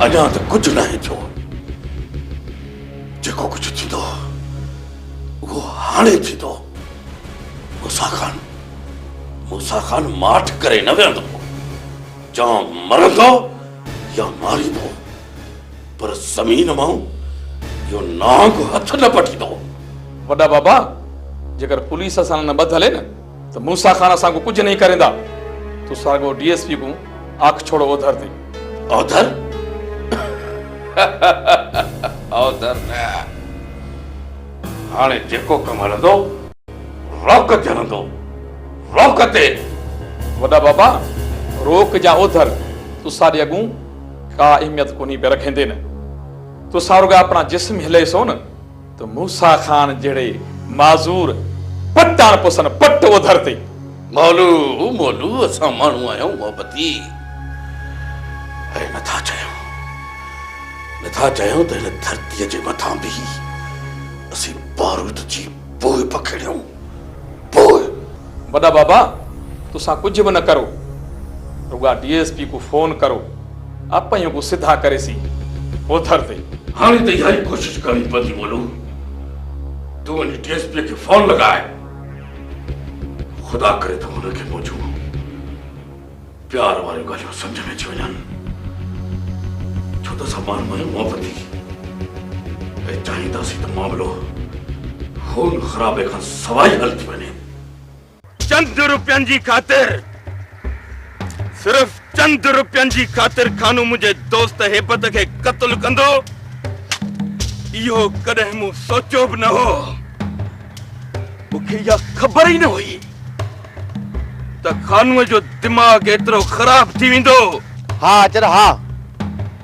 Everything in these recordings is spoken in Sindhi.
اڃا ته ڪجهه ناهي ٿيو جيڪو ڪجهه ٿيندو اهو هاڻي ٿيندو موسا خان موسا خان ماٺ ڪري نه ويهندو جا مرندو يا ماريندو پر زمين مان اهو نانگ هٿ نه پٽيندو. وڏا بابا، جيڪر پوليس اسان نه ٻڌ هلي نه ته موسيٰ خان اسان ڪون ڪجهه نهين ڪريندا. تون ساڳو ڊي ايس پي ڪون آک ڇوڙ اوڌر تي. اوڌر؟ اوڌر نه. هاڻي جيڪو ڪم هلندو، روڪ تي هلندو. روڪ تي. وڏا بابا، روڪ يا اوڌر، تون ساڏي اڳون ڪا اهميت ڪونهي پئي رکيندين، تون سان رڳو اپڻا جسم هلئي سون ته موسيٰ خان جهڙي معذور پٽاڻ پسن پٽ اوڌر تي. مولو مولو اسان ماڻهو آهيون محبتي ۽ نٿا چاهيون نٿا چاهيون ته هن ڌرتي جي مٿان به اسين بارود جي پوء پکڙيون، پوء. وڏا بابا تسان ڪجهه به نه ڪرو رڳا ڊي ايس پي ڪو فون ڪرو اپهين ڪو سڌا ڪري سي اوڌر تي. هاڻي ته اها ئي ڪوشش ڪرڻي پوندي مولو تون وڃي ڊي ايس پي کي فون لڳاء خدا ڪري ته هن کي منهنجو. پيار واريون ڳالهيون سمجهه ۾ اچي وڃن، ڇو ته اسان ماڻهن مان محبتي ۽ چاهينداسين ته معاملو خون خرابي کان سواء ئي حل ٿي وڃي. چند روپين جي خاطر، صرف چند روپين جي خاطر خانو منهنجي دوست هيبت کي قتل ڪندو، اهو ڪڏهن مون سوچيو به نه هو. مون کي اها خبر ئي نه هئي. ته خانوء جو دماغ ايترو خراب ٿي ويندو؟ ها اچر ها.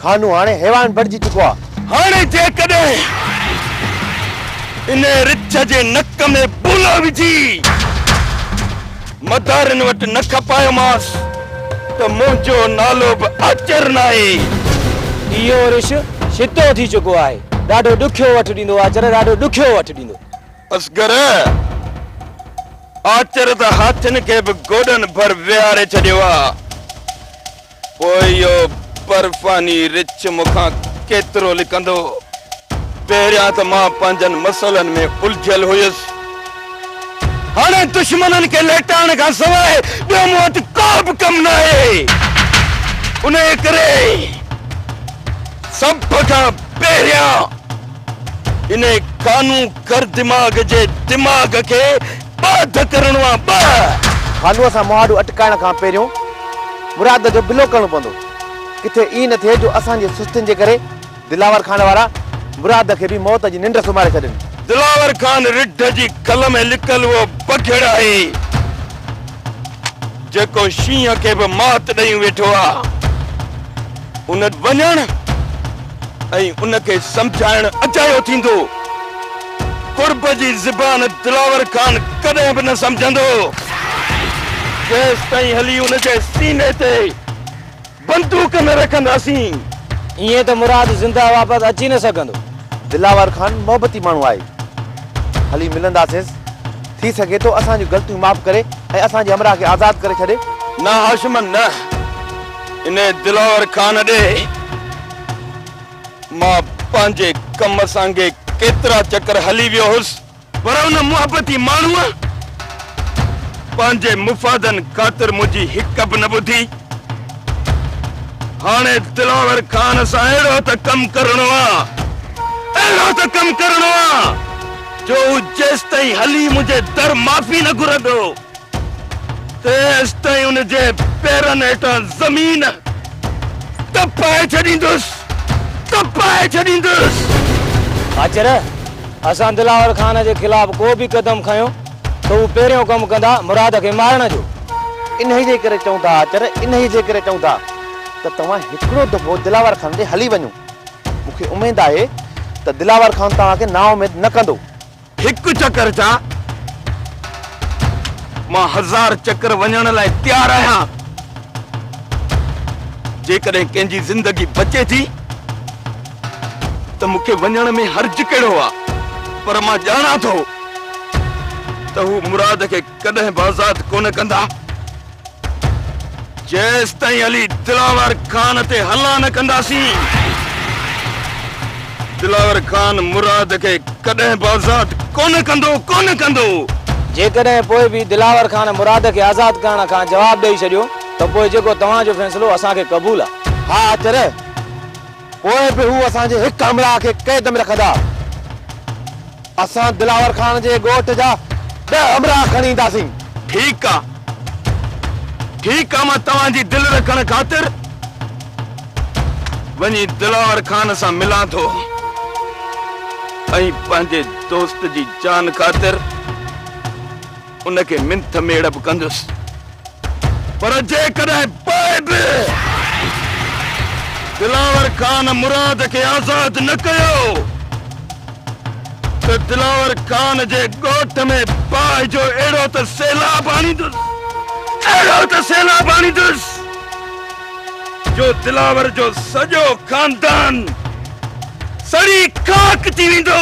خانو هاڻي حيوان بڻجي چڪو آ. هاڻي جيڪڏهن انهيء رڇ جي نڪ ۾ بولو وجهي مدارين وٽ نه کپايومانس ته منهنجو نالو به اچر ناهي. اهو رڇ شتو ٿي چڪو آهي. ڏاڍو ڏکيو وٺ ڏيندو اچر، ڏاڍو ڏکيو وٺ ڏيندو. اصغر! آچر ته هاٿين کي به گوڏن ڀر ويهاري ڇڏيو آ، پوء اهو برفاني رڇ مون کان ڪيترو لڪندو؟ پهريان ته مان پنهنجن مسئلن ۾ الجهيل هيس، هاڻي دشمنن کي ليٽائڻ کان سواء ٻيو مون وٽ ڪو به ڪم ناهي. انهيء ڪري سڀ کان پهريان. انهي ڪانو ڪر دماغ جي دماغ کي ٻاڌ ڪرڻو آ ٻه. ڪانو سان مهاڏو اٽڪائڻ کان پهريون مراد جو بلو ڪرڻو پوندو ڪٿي ائين نه ٿئي جو اسان جي سستين جي ڪري دلاور خان وارا مراد کي به موت جي ننڊ سمهاري ڇڏين. دلاور خان رڍ جي کل ۾ لڪل اهو بگهڙ آهي جيڪو شينهن کي به مات ڏئي ويٺو آ ان وڃڻ. ۽ ان کي سمجهائڻ اجايو ٿيندو. قرب جي زبان دلاور خان ڪڏهن به نه سمجهندو، جيستائين هلي ان جي سيني تي بندوق نه رکنداسين. ائين ته مراد زنده واپس اچي نه سگهندو. دلاور خان محبتي ماڻهو آهي، هلي ملنداسينس، ٿي سگهي ٿو اسان جون غلطيون معاف ڪري ۽ اسان جي همراهه کي آزاد ڪري ڇڏي. نه هاشم نه. انهي دلاور خان ڏي مان پنهنجي ڪم سانگي ڪيترا چڪر هلي ويو هوس، پر ان محبتي ماڻهوء پنهنجي مفادن خاطر منهنجي هڪ به نه ٻڌي. هاڻي دلاور خان سان اهڙو ته ڪم ڪرڻو آ، اهڙو ته ڪم ڪرڻو آ، جو هو جيستائين هلي منهنجي در معافي نه گهرندو. تيستائين ان جي پيرن هيٺان زمين تپائي ڇڏيندس، تپائي ڇڏيندس. آچر، اسان دلاور خان جي خلاف ڪو به قدم کنيو ته هو پهريون ڪم ڪندا مراد کي مارڻ جو. انهيء جي ڪري چئون ٿا آچر، انهيء جي ڪري چئون ٿا ته توهان هڪڙو دفعو دلاور خان ڏي هلي وڃو. مون کي اميد آهي ته دلاور خان توهان کي نااميد نه ڪندو. هڪ چڪر ڇا، مان هزار چڪر وڃڻ لاء تيار آهيان. جيڪڏهن ڪنهن جي زندگي بچي ٿي ته مون کي وڃڻ ۾ حرج ڪهڙو آ، پر مان ڄاڻان ٿو ته هو مراد کي ڪڏهن به آزاد ڪونه ڪندا. جيستائين علي دلاور خان تي حلا نه ڪنداسين، دلاور خان مراد کي ڪڏهن به آزاد ڪونه ڪندو، ڪونه ڪندو! جيڪڏهن پوء به دلاور خان مراد کي آزاد ڪرڻ کان جواب ڏئي ڇڏيو ته پوء جيڪو توهان جو فيصلو اسان کي قبول آهي. ها اتر! پوء به هو اسان جي هڪ همراهه کي قيد ۾ رکندا. اسان دلاور خان جي ڳوٺ جا ڏهه همراهه کڻي اينداسين. ٺيڪ آ. ٺيڪ آ مان توهان جي دل رکڻ خاطر وڃي دلاور خان سان ملان ٿو ۽ پنهنجي دوست جي جان خاطر ان کي منٿ ميڙ به ڪندس، پر جيڪڏهن پوء به دلاور خان مراد کي آزاد نه ڪيو ته دلاور خان جي ڳوٺ ۾ باهه جو اهڙو ته سيلاب آڻيندس، اهڙو ته سيلاب آڻيندس جو دلاور جو سڄو خاندان سڙي خاڪ ٿي ويندو.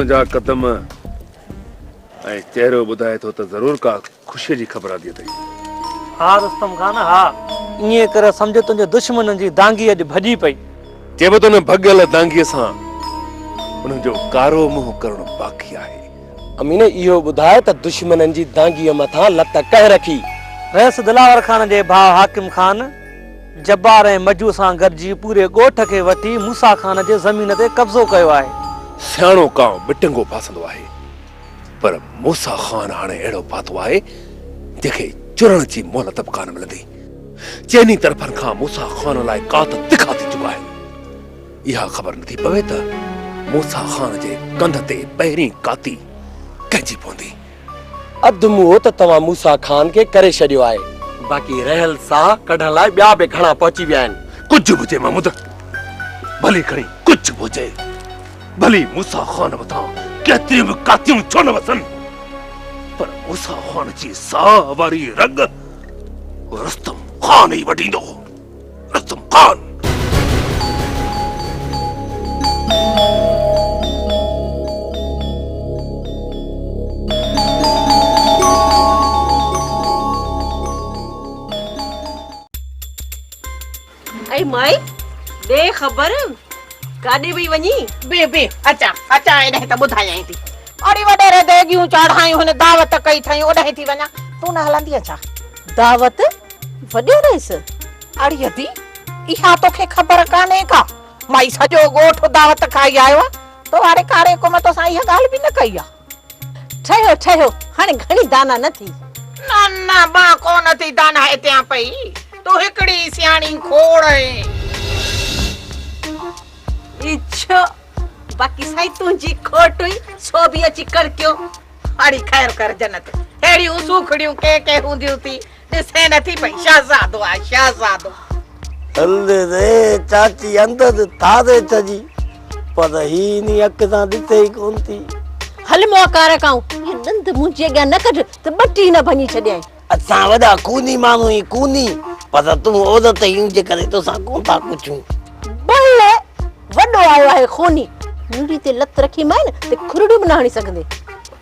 تنهنجا قدم ۽ چهرو ٻڌائي ٿو ته ضرور ڪا خوشيء جي خبر آندي اٿئي. ها رستم خان ها! ائين ڪر سمجهه تنهنجي دشمنن جي دانگي اڄ ڀڄي پئي. چيو ته ان ڀڳيل دانگيء سان انهن جو ڪارو منهن ڪرڻو باقي آهي. امين اهو ٻڌاء ته دشمنن جي دانگيء مٿان لت ڪنهن رکي؟ ويس دلاور خان جي ڀاء حاڪم خان، جبار ۽ مجو سان گڏجي پوري ڳوٺ کي وٺي موسيٰ خان جي زمين تي قبضو ڪيو آهي. سياڻو ڪاء بٽنگو ڦاسندو آهي. پر موسيٰ خان هاڻي اهڙو پاتو آهي، جنهن کي چرڻ جي مهلت به ڪانه ملندي. چئني طرفن کان موسيٰ خان لاء ڪات تکا ٿي چڪا آهن. اها خبر نه ٿي پوي ته موسيٰ خان جي ڪنڌ تي پهرين ڪاتي ڪنهن جي پوندي. اڌ منهو ته توهان موسيٰ خان کي ڪري ڇڏيو آهي، باقي رهيل ساهه ڪڍڻ لاء ٻيا به گهڻا پهچي ويا آهن. ڪجهه به هجي محمود، ڀلي کڻي ڪجهه به هجي. ڀلي موسيٰ خان مٿان ڪيتريون به ڪاتيون ڇو نه وسن، پر موسيٰ خان جي ساهه واري رڳ رستم خان ئي وڍيندو. رستم خان! اي مائي ڏي خبر ڪاڏي پئي وڃين. بيھ بيھ اچان اچان ايڏاهين ته ٻڌايائين ٿي. اڙي وڏيري ديڳيون چاڙهايون هن دعوت ڪئي اٿئين اوڏاهين ٿي وڃان تون نه هلندينء ڇا. دعوت وڏيريس اڙي ادي اها توکي خبر ڪانهي ڪا مائي سڄو ڳوٺ دعوت کائي آيو آ تو واري ڪاري ڪم توسان اها ڳالهه به نه ڪئي آ. ٺهيو ٺهيو هاڻي گهڻي داناء نه ٿي. نه نه مان ڪو نه ٿي داناء ٿيان پئي تون هڪڙي ئي سياڻي کوڙ آهين. اي ڇو باقي سائين تنهنجي کوٽ هئي سو به اچي ڪڙڪيو. اڙي خير ڪر جنت ههڙيون سوکڙيون ڪنهن ڪنهن هونديون ٿي ڏسين نٿي پئي شهزادو آهي شهزادو. هل ري چاچي اندر ڌاري ڇڄي پر هي انهي اک سان ڏسي ئي ڪون ٿي. هل مئا ڪارا ڪائون هي ڏند منهنجي اڳيان نه ڪڍ ته ٻٽي نه ڀڃي ڇڏيائين. اسان وڏا ڪوني ماڻهو آهيون ڪوني پر تون عورت آهين ان جي ڪري توسان ڪون ٿا پڇون. بل وڏو آيو آهي خوني نڙي تي لت رکيمانء ته کرڙيون به نه هڻي سگهندين.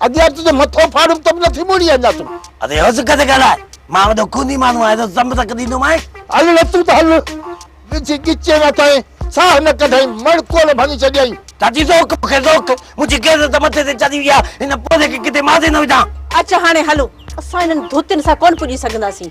ادي اچ جو مٿو ڦاڙيم ته به نٿي موڙي اڃا تون. ادي هو سڪ تي ڳالهاء. مان وڏو خوني ماڻهو آهيان سو سم سڪ ڏيندومانء. هل نه تون ته هل. وجهي ڳچيء مان تائين ساهه نه ڪڍيائين مڙ ڪول ڀڃي ڇڏيائين. چاچي ذوق مون کي ذوق. منهنجي غيرت ته مٿي تي چڙهي وئي آهي هن پوڙهي کي ڪٿي ماضي نه وجهان. اچ هاڻي هلون. اسان هنن ڌوتين سان ڪونه پڄي سگهنداسين.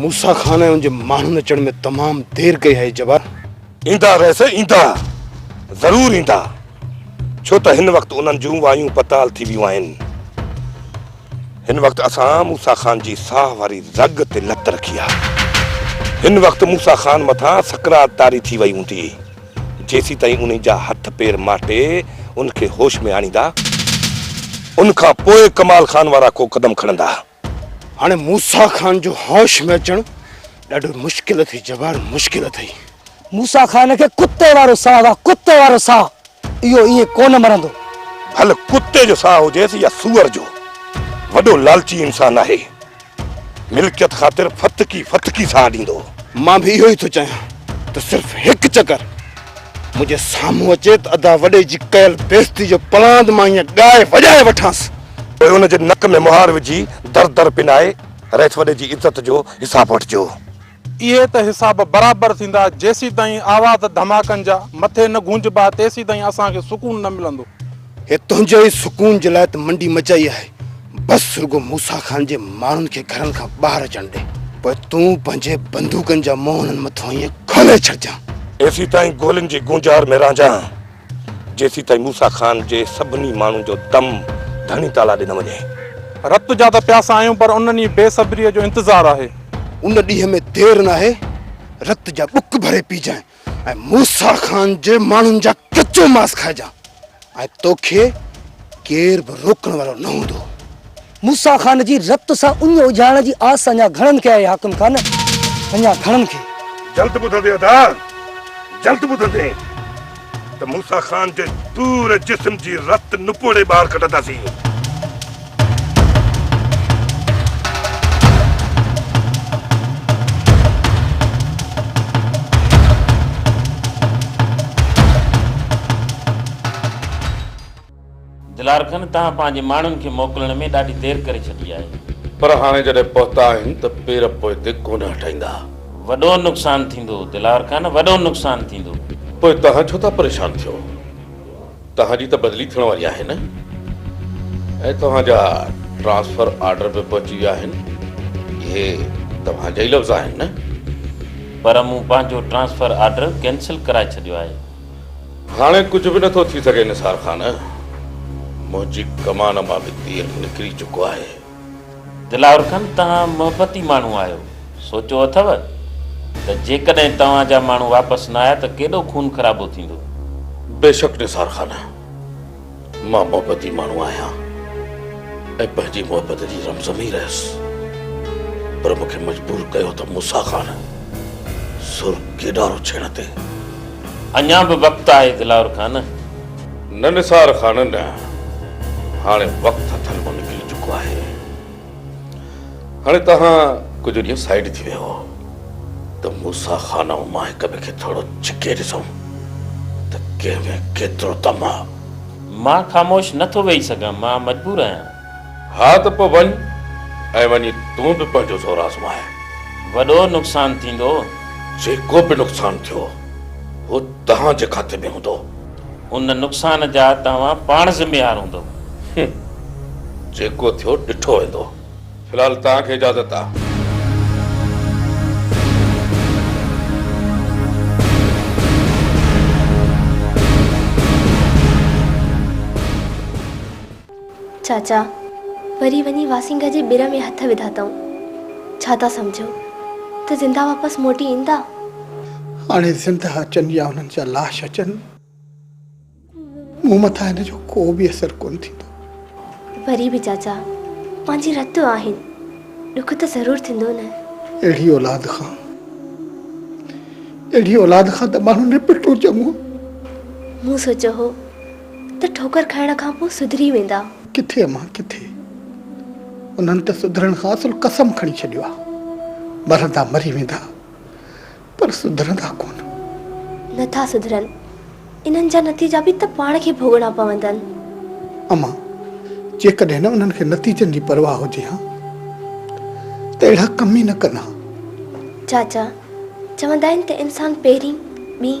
موسيٰ خان ۽ ان جي ماڻهن اچڻ ۾ تمام دير ڪئي آهي جبار. ايندا ويس ايندا ضرور ايندا ڇو ته هن وقت انهن جون وايون پتال ٿي ويون آهن. هن وقت اسان موسيٰ خان جي ساهه واري زڳ تي لت رکي آهي. هن وقت موسيٰ خان مٿان سڪرات طاري ٿي وئي هوندي. جيسيتائين انهي جا هٿ پير ماٽي ان کي هوش ۾ آڻيندا، ان کان پوء ڪمال خان وارا ڪو قدم کڻندا. هاڻي موسيٰ خان جو هوش ۾ اچڻ ڏاڍو مشڪل اٿئي جبار، مشڪل اٿئي. موسيٰ خان کي ڪتي وارو ساهه واه ڪتي وارو ساهه، اهو ائين ڪونه مرندو. ڀل ڪتي جو ساهه هجيس يا سوئر جو، وڏو لالچي انسان آهي. ملڪيت خاطر ڦٿڪي ڦٿڪي ساهه ڏيندو هو. مان به اهو ئي ٿو چاهيان ته صرف هڪ چڪر منهنجي سامهون اچي ته ادا وڏي جي ڪيل بيعزتي جو پلاند مان ائين ڳائي وڄائي وٺانس. پوء ان جي نڪ ۾ مهار وجهي در در پنائي رئيس وڏي جي عزت جو حساب وٺجو. اهي ته حساب برابر ٿيندا، جيسيتائين آواز ڌماڪن جا مٿي نه گونجبا تيسيتائين اسان کي سڪون نه ملندو. هي تنهنجي ئي سڪون جي لاء ته منڊي مچائي آهي، بس رڳو موسيٰ خان جي ماڻهن کي گهرن کان ٻاهر اچڻ ڏي، پوء تون پنهنجي بندوقن جا منهن انهن مٿان ائين کولي ڇڏجان. تيسيتائين گولين جي گونجار ۾ رهجان. جيسيتائين موسيٰ خان جي سڀني ماڻهن جو دم ڌڻي تعاليٰ ڏي نه وڃي. رت جا ته پياسا آهيون پر ان ڏينهن بي صبريء جو انتظار آهي. ان ڏينهن ۾ دير ناهي رت جا ٻڪ ڀري پيجانء ۽ موسيٰ خان جي ماڻهن جا ڪچو ماس کائجان ۽ توکي ڪير به روڪڻ وارو نه هوندو. موسيٰ خان جي رت سان اڃ اجهائڻ جي آس اڃا گهڻن کي آهي حاڪم خان، اڃا گهڻن کي. جلد ٻڌندين ادا، جلد ٻڌندين ته موسيٰ خان جي پوري جسم جي رت نپوڙي ٻاهر ڪڍنداسين. دلار کن، توهان پنهنجي ماڻهن کي موڪلڻ ۾ ڏاڍي دير ڪري ڇڏي آهي. پر هاڻي جڏهن پهتا آهن ته پير پوئتي ڪونه هٽائيندا. وڏو نقصان ٿيندو. دلار کن، وڏو نقصان ٿيندو. پوء توهان ڇو ٿا پريشان ٿيو؟ توهان جي ته بدلي ٿيڻ واري آهي نه؟ ۽ توهان جا ٽرانسفر آرڊر به پهچي ويا آهن. اهي توهان جا ئي لفظ آهن نه؟ پر مون پنهنجو ٽرانسفر آرڊر ڪينسل ڪرائي ڇڏيو آهي. هاڻي ڪجهه به نه ٿو ٿي سگهي نثار خان، منهنجي ڪمان مان به تير نڪري چڪو آهي. دلاور خان توهان محبتي ماڻهو آهيو، سوچيو اٿو ته جيڪڏهن توهان جا ماڻهو واپس نه آيا ته ڪيڏو خون خرابو ٿيندو. بيشڪ نثار خان! مان محبتي ماڻهو آهيان ۽ پنهنجي محبت جي زمزمي رهيس پر مون کي مجبور ڪيو ته موسيٰ خان سر ڪيڏارو ڇيڻ تي اڃا به وقت آهي دلاور خان. نه نثار خان نه هاڻي وقت هٿن مان نڪري چڪو آهي. هاڻي توهان ڪجهه ڏينهن سائيڊ ٿي ويهو ته موسيٰ خان ۽ مان هڪ ٻئي کي ٿورو ڇڪي ڏسون ته ڪنهن ۾ ڪيترو دم آ. مان خاموش نه ٿو ويهي سگهان، مان مجبور آهيان. ها ته پوء وڃ ۽ وڃي تون به پنهنجو زور آزماء. وڏو نقصان ٿيندو. جيڪو به نقصان ٿيو اهو توهان جي کاتي ۾ هوندو. ان نقصان جا توهان پاڻ ذميوار هوندؤ. هم. جيڪو ٿيو ڏٺو ويندو. في الحال توهان کي اجازت آ. چاچا وري وڃي واسينگهه جي ٻر ۾ هٿ وڌا تئون ڇا ٿا سمجهو ته زنده واپس موٽي ايندا؟ هاڻي زنده اچن يا انهن جا لاش اچن، مون مٿان ان جو ڪو به اثر ڪونه ٿيندو. وري به چاچا پنهنجي رت آهن، ڏک ته ضرور ٿيندو نه. اهڙي اولاد کان، اهڙي اولاد کان ته ماڻهو نپٽڻو چڱو. مون سوچيو هو ته ٺوڪر کائڻ کان پوء سڌري ويندا. ڪٿي امان ڪٿي، انهن ته سڌرڻ کان اصل قسم کڻي ڇڏيو آهي. مرندا مري ويندا، پر سڌرندا ڪونه. نه ٿا سڌرن، انهن جا نتيجا به ته پاڻ کي ڀوڳڻا پوندن. امان، جيڪڏهن نه انهن کي نتيجن جي پرواهه هجي ها ته اهڙا ڪم ئي نه ڪن ها. چاچا، چوندا آهن ته انسان پهرين، ٻين.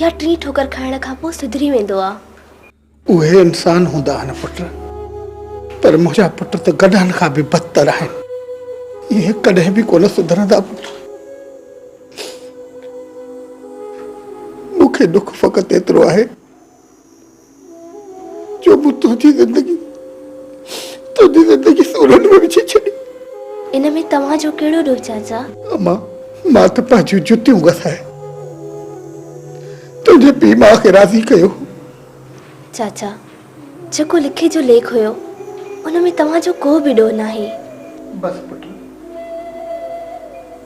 يا ٽين ٺوڪر کائڻ کان پوء سڌري ويندو آ. اهي انسان هوندا آهن پٽ. پر منهنجا پٽ ته گڏهن کان به بدتر آهن. اهي ڪڏهن به ڪونه سڌرندا پٽ. مون کي ڏک فقط ايترو آهي. جو مون تنهنجي زندگي تنهنجي زندگي سورن ۾ وجهي ڇڏي. ان ۾ توهان جو ڪهڙو ڏوهه چاچا؟ اما مان ته پنهنجيون جتيون گسائي تنهنجي پيء ماء کي راضي ڪيو هو. چاچا جيڪو لکي جو ليک هيو ان ۾ توهان جو ڪو به ڏوهه ناهي. بس پٽ.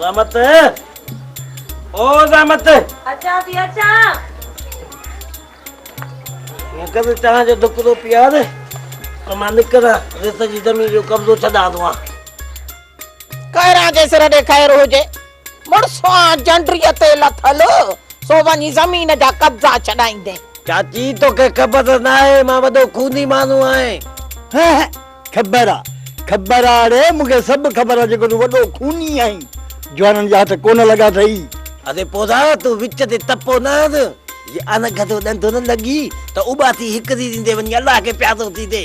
زحمت او زحمت اچان ٿي اچان مونکي ته چانهه جو دڪ ٿو پيار ته مان نڪران ريت جي زمين جو قبضو ڇڏان ٿو ڪيران جي سر ڏي خير هجي. مڙسان جنڊري تي لٿل سو وڃي زمين جا قبضا ڇڏائيندين. چاچي توکي خبر ناهي مان وڏو خوني ماڻهو آهين. هه هه خبر آ خبر آ اڙي مون کي سڀ خبر آ جيڪو تون وڏو خوني آهين. جوانن جا هٿ ڪونه لڳا اٿئي. اڙي پورا تون وچ تي تپو نه هڻ. جي اڻ گهٽو ڏنڊو نه لڳي ته اٻاٽي هڪ ريڙهين تي وڃي الله کي پيارو ٿي ڏي.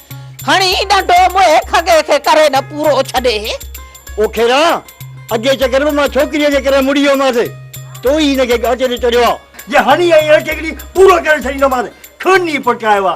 هڻي ڏنڊو موهي کڳي کي ڪري نه پورو ڇڏي. او کيرا! اڳئي چڪر به مان ڇوڪريء جي ڪري مڙي ويومانس، تو ئي هن کي ڳاٽي تي چڙهيو آ. جي هڻي ۽ اڻ ڇڪڙي پورو ڪري ڇڏيندومانس، کڻي پٽڪايو آ.